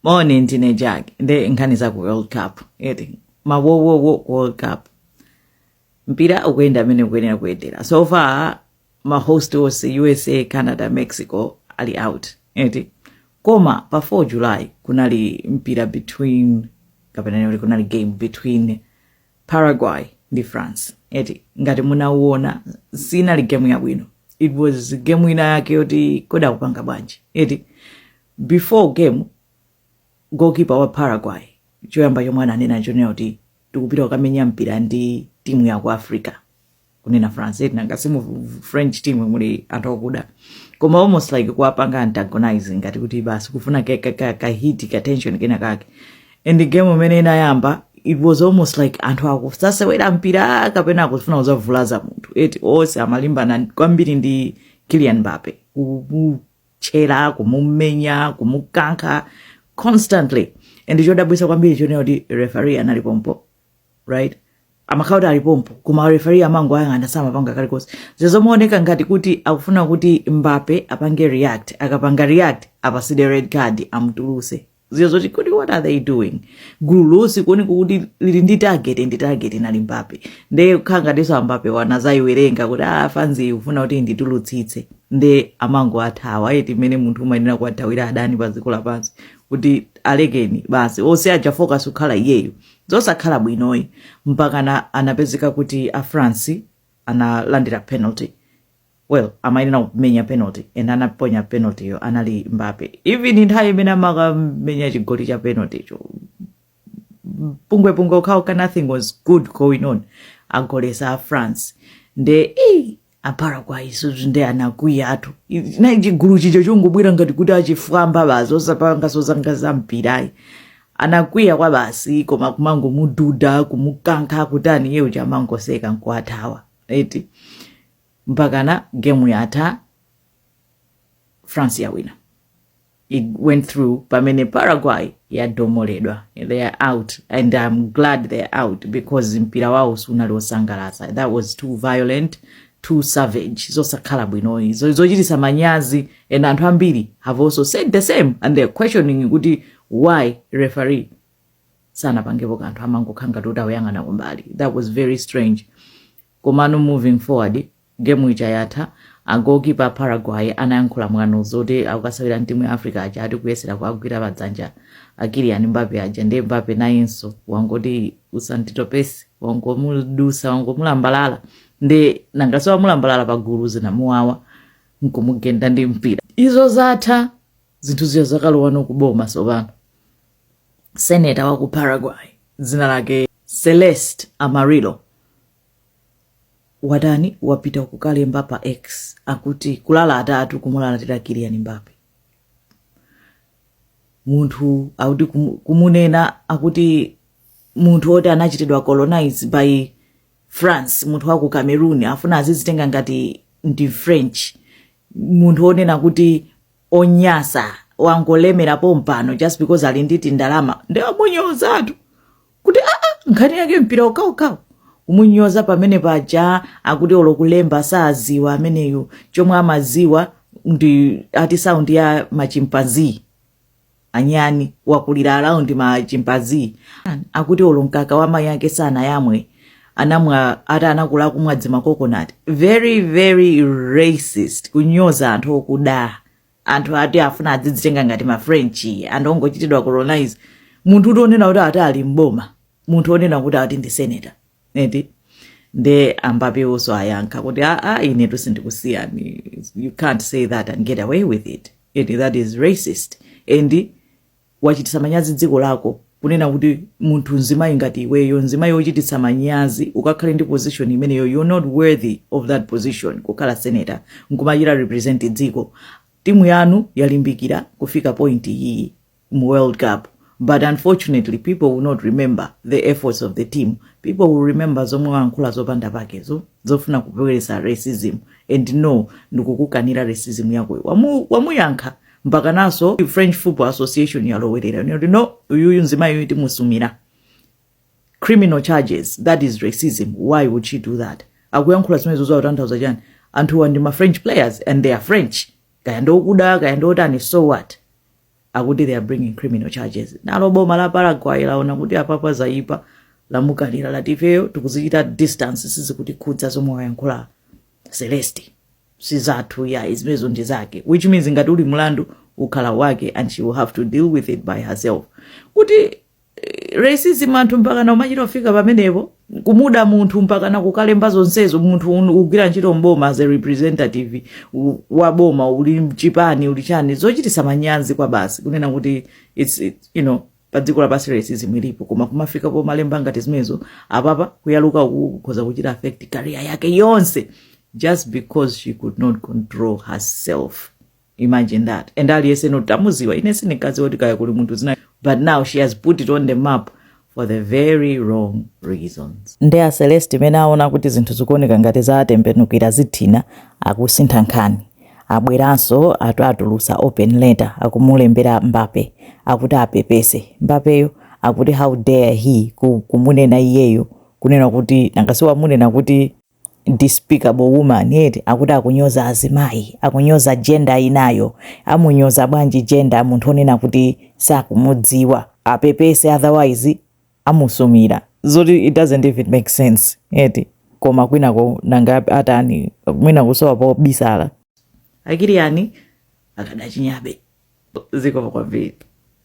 moni ndine jack nde nkhani za ku world cup eti mawowowo ku world cup mpira ukuyenda mmene ukuyenera kuyendera so far mahost onse usa canada mexico ali out eti koma pa 4 july kunali mpira between kapena kuti kunali game between Paraguay ndi France eti ngati munauona sinali game yabwino it was game ina yake yoti kodi akupanga bwanji eti before game goalkeeper wa Paraguay choyamba chomwe ananena chonena kuti tikupita kukamenya mpira ndi timu ya ku Africa kunena france eti nanga simu french team muli anthu akuda koma almost like kuwapanga antagonize ngati kuti basi kufuna ka, ka, ka, ka hit ka tension kena kake and the game mmene inayamba it was almost like anthu sakuzasewera mpira kapena akufuna kuzavulaza munthu eti onse amalimbana kwambiri ndi kylian mbappe kumutchera kumumenya kumukankha constantly and chodabwisa kwambiri chonena kuti referee anali pompo right amakhala kuti ali pompo koma referee amangoyang'ana samapanga kalikonse zizimaoneka ngati kuti akufuna kuti mbappe apange react akapanga react apasidwe red card amutuluse ziyo zoti kodi what are they doing gulu lonse kuoneka kuti lili ndi target ndi target inali mbappe nde kukhala ngatinso mbappe wo anazayiwerenga kuti ah fanzi ufuna kuti nditulutsitse nde amango athawa eti mmene munthu umayenera kuwathawira adani pa dziko lapansi kuti alekeni basi onse aja focus kukhala iyeyo Zosakhala bwinoyi mpakana anapezeka kuti a France analandira penalty. Well, amayenera kumenya penalty and anaponya penalty yo anali Mbappe. Even nthawi imene amakamenya chigoli cha penalty cho pungwepungwe okhaokha nothing was good going on agolesa a France nde ii a paraguay so nde anakwiya anthu nayi chigulu chicho chongobwera ngati kuti achifwamba basi osapangaso zangati za mpirayi anakwiya kwa basi koma kumangomududa kumukankha kutani iye uja amangoseka nkuathawa eti mpakana gemu yatha france yawina it went through pamene paraguay yadomoledwa they are out and i'm glad they are out because mpira wawo sunali wosangalatsa that was too violent too savage zosakhala bwinoyi zochititsa manyazi and anthu ambiri have also said the same and they're questioning kuti why referee sanapangepo kanthu amangokhala ngati kuti akuyang'ana kumbali that was very strange komano moving forward Game ija yatha, a goalkeeper a Paraguay anayankhula mwano zoti akukasewera timu ya Africa aja ati kuyesera kuwagwira pa dzanja a Kylian Mbappe aja ndiye Mbappe nayenso wangoti usanditopese wangomudusa wangomulambalala ndiye nangaso wamulambalala pa gulu zinamuwawa nkumugenda ndi mpira izo zatha zinthu zija zakalowanso kuboma tsopano seneta wa ku Paraguay dzina lake Celeste Amarillo watani wapita kukalemba pa x akuti kulalatatu kumulalatira Kylian Mbappe munthu akuti kumu- kumunena akuti munthu oti anachitidwa colonize by france munthu wa ku cameroon afuna azizitenga ngati ndi french munthu onena kuti onyasa wangolemera pompano just because ali ndi tindalama nde amunyozatu kuti aa ah, ah, nkhani yake mpira okhawo kumunyoza pamene paja akuti olo kulemba saziwa ameneyo chomwe amaziwa ndi ati sound ya machimpanzee anyani wakulira around machimpanzee akuti olo mkaka wa mayi ake sanayamwe anamwa ati anakula kumwa dzima coconut very very racist kunyoza anthu okuda anthu ati afuna adzidzitenga ngati ma french anthu ongochitidwa colonize munthu woti onena kuti ati ali mboma munthu onena kuti ati ndi senator eti nde a Mbappe nawoso ayankha kuti aa ine tu sindikusiyani you can't say that and get away with it eti that is racist and wachititsa manyazi dziko lako kunena kuti munthu mzimayi ngati iweyo mzimayi wochititsa manyazi ukakhale ndi position imeneyo you're not worthy of that position kukhala senator nkumachita represent dziko timu yanu yalimbikira kufika point iyi mu world cup but unfortunately people will not remember the efforts of the team people will remember zomwe wankhula zopanda pakezo zofuna kubweretsa racism and no ndikukukanira racism yakoyo Wamu- wamuyankha mpakananso french football association yalowerera ndikuti no uyuyu mzimayi uyu timusumira criminal charges that is racism why would she do that akuyankhula zimenezo zikutanthauza chani anthuwa ndi ma french players and they are french kaya ndiokuda kaya ndiotani so what akuti they are bringing criminal charges nalo boma la paraguay laona kuti apapa zayipa lamukalira lati ifeyo tikuzichita distance sizikutikhudza zomwe wayankhula celeste sizathu ayi zimenezo ndi zake which means ngati uli mlandu ukhala wake and she will have to deal with it by herself kuti eh, racism anthu mpakana umachita kufika pamenepo kumuda munthu mpakana kukalemba zonsezo munthu un- ugwira ntchito mboma as a representative u- wa boma uli mchipani uli chani zochitisa manyazi kwabasi kunena kuti it's, it, you know pa dziko lapansi racism ilipo koma kumafika pomalemba ngati zimenezo apapa kuyaluka uku kukhoza kuchita affect career yake yonse just because she could not control herself imagine that and aliyense pano tamudziwa ine sindinkadziwa kuti kaya kuli munthu dzina but now she has put it on the map for the very wrong reasons ndiye a celeste mmene aona kuti zinthu zikuoneka ngati zatembenukira zithina akusintha nkhani abweranso atu atulutsa open letter akumulembera mbappe akuti apepese mbappeyo akuti how dare he ku, kumunena iyeyo kunena kuti nanga si wamunena kuti despicable woman eti akuti akunyoza azimayi akunyoza gender inayo amunyoza bwanji gender munthu onena kuti sakumudziwa apepese otherwise amusumira zoti it doesn't even make sense eti koma kwinako nanga atani mwina kusowa pobisala a kylian akadachinyabe zikomo kwambiri